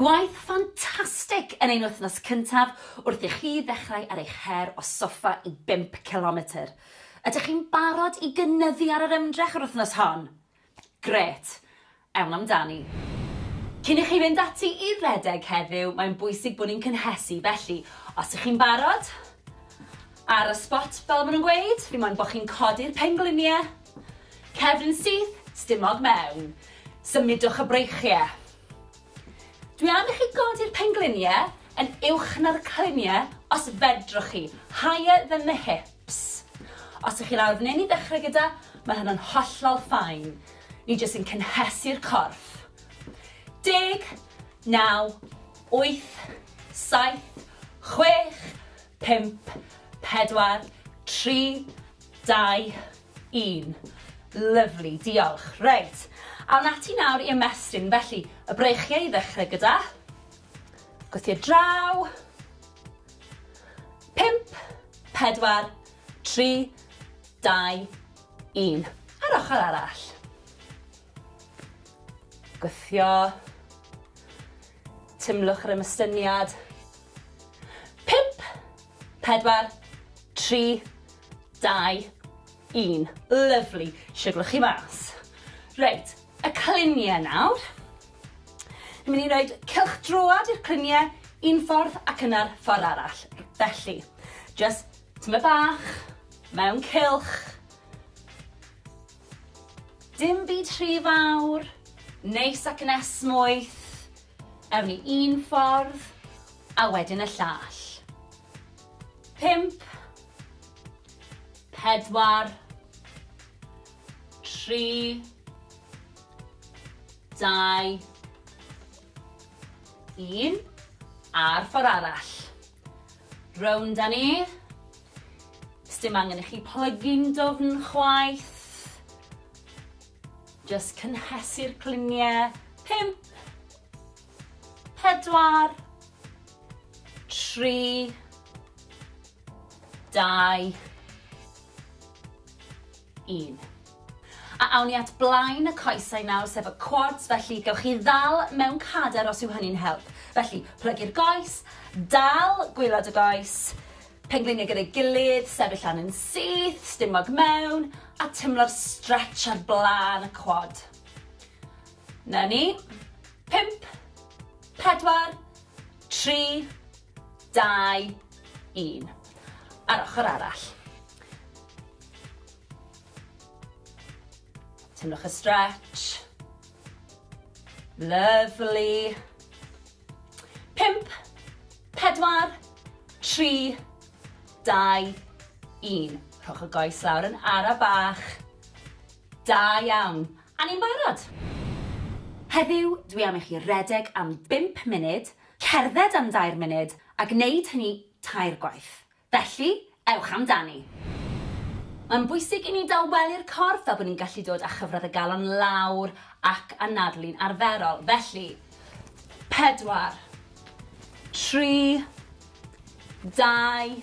Gwaith ffantastig yn ein wythnos cyntaf wrth i chi ddechrau ar eich her o soffa i bump cilometr. Ydych chi'n barod i gynyddu ar yr ymdrech yr wythnos hon? Grêt! Ewn amdani. Cyn i chi fynd ati i redeg heddiw, mae'n bwysig bod ni'n cynhesu, felly os ych chi'n barod, ar y sbot fel maen nhw'n gweud, fi moyn bod chi'n codi'r pengliniau, Cefn syth, stumog mewn. Symudwch y breichie. Dwi am i chi godi'r penglunie yn uwch na'r clunie os fedrwch chi, higher than the hips. Os ych chi lawr f'nyn i ddechrau gyda, mae hynna'n hollol ffain. Ni jyst yn cynhesu'r corff. Deg, naw, wyth, saith, chwech, pump, pedwar, tri, Dau, un. Lyfli, diolch. Reit, awn ati nawr i ymestyn. Felly, y breichiau i ddechrau gyda. Gwythio draw. Pimp, pedwar, tri, dau, un. A'r ochr arall. Gwythio. Tymlwch yr ymystyniad. 4, 3, 2, 1. Lyfli, siwglo chi mas. Reit, y cluniau nawr. Ni'n mynd i roed cylch droad i'r cluniau un ffordd ac yna'r ffordd arall. Felly, just tyma bach, mewn cylch. Dim byd rhy fawr, neis ac yn esmwyth, ewn ni un ffordd a wedyn y llall. Pump, pedwar, tri, dau, un, a'r ffordd arall. Rownd â ni, Sdim angen i chi plygu'n dwfn chwaith. Jyst cynhesu'r cluniau. Pump. Pedwar. Tri. Dau. un. A awn ni at blaen y coesau nawr, sef y quads, felly gewch chi ddal mewn cader os yw hynny'n help. Felly, plygu'r goes, dal gwylod y goes, pengliniau gyda'i gilydd, sefyll lan yn syth, stumog mewn, a tymlo'r stretch ar blaen y quad. Na ni. Pimp, pedwar, tri, dau, un. A'r ochr arall. Teimlwch y stretch. Lovely. Pimp, pedwar, tri, dau, un. Rhowch y goes lawr yn ara bach. Da iawn. A ni'n barod. Heddiw, dwi am i chi redeg am bimp munud, Cerdded am dair munud a gwneud hynny tair gwaith. Felly, ewch amdani! Mae'n bwysig i ni dawelu'r corff fel bod ni'n gallu dod â chyfradd y galon lawr ac anadlu'n arferol. Felly, pedwar, tri, dau,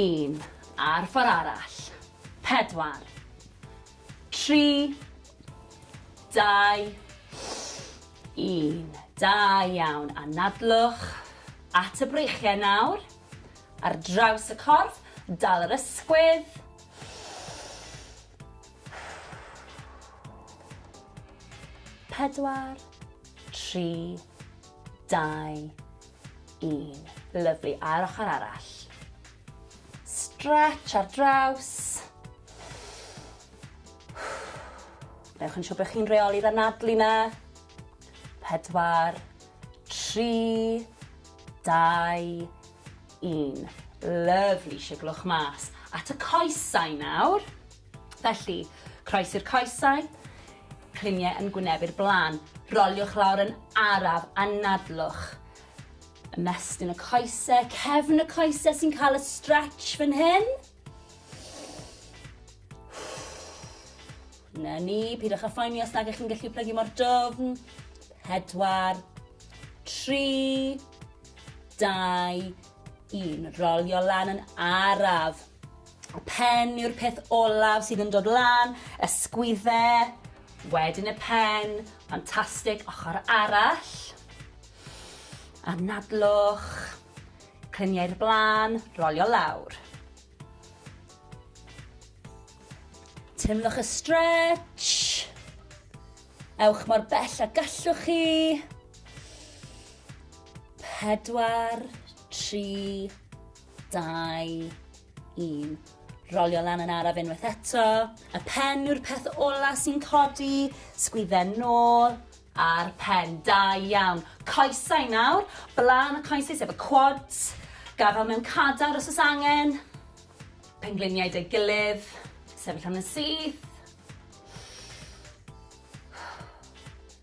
un. A'r ffordd arall. Pedwar. 3, 2, 1. Da iawn. Anadlwch at y breichiau nawr. Ar draws y corff, dal yr ysgwydd. Pedwar, tri, dau, Un. Lyfli, a'r ochr arall. Stretch ar draws. Newch yn siŵr bod chi'n reoli'r anadlu na. Pedwar, tri, dau, un. Lyfli, siglwch mas. At y coesau nawr. Felly, croesi'r coesau, cliniau yn gwynebu'r blaen. Roliwch lawr yn araf a nadlwch. Ymestyn y coesau, cefn y coesau sy'n cael y stretch fan hyn. Na ni, pidwch â phoeni os nag ych chi'n gallu plygu mor dofn. Pedwar, tri, dau, un. Rolio lan yn araf. Y pen yw'r peth olaf sydd yn dod lan, ysgwydde, wedyn y pen, ffantastig, ochr arall. Anadlwch, clyniau'r blaen, rolio lawr. Teimlwch y stretch. Ewch mor bell a gallwch chi. Pedwar, tri, Dau, un. Rolio lan yn araf unwaith eto. Y pen yw'r peth ola sy'n codi. Sgwydden nôl. A'r pen. Da iawn. Coesau nawr. Blaen y coesau sef y quads. Gafel mewn cadar os oes angen. Pengliniau dy gilydd. Sefyll am y syth.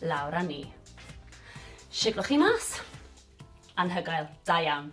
lawr a ni. Siglwch chi mas. Anhygoel. Da iawn.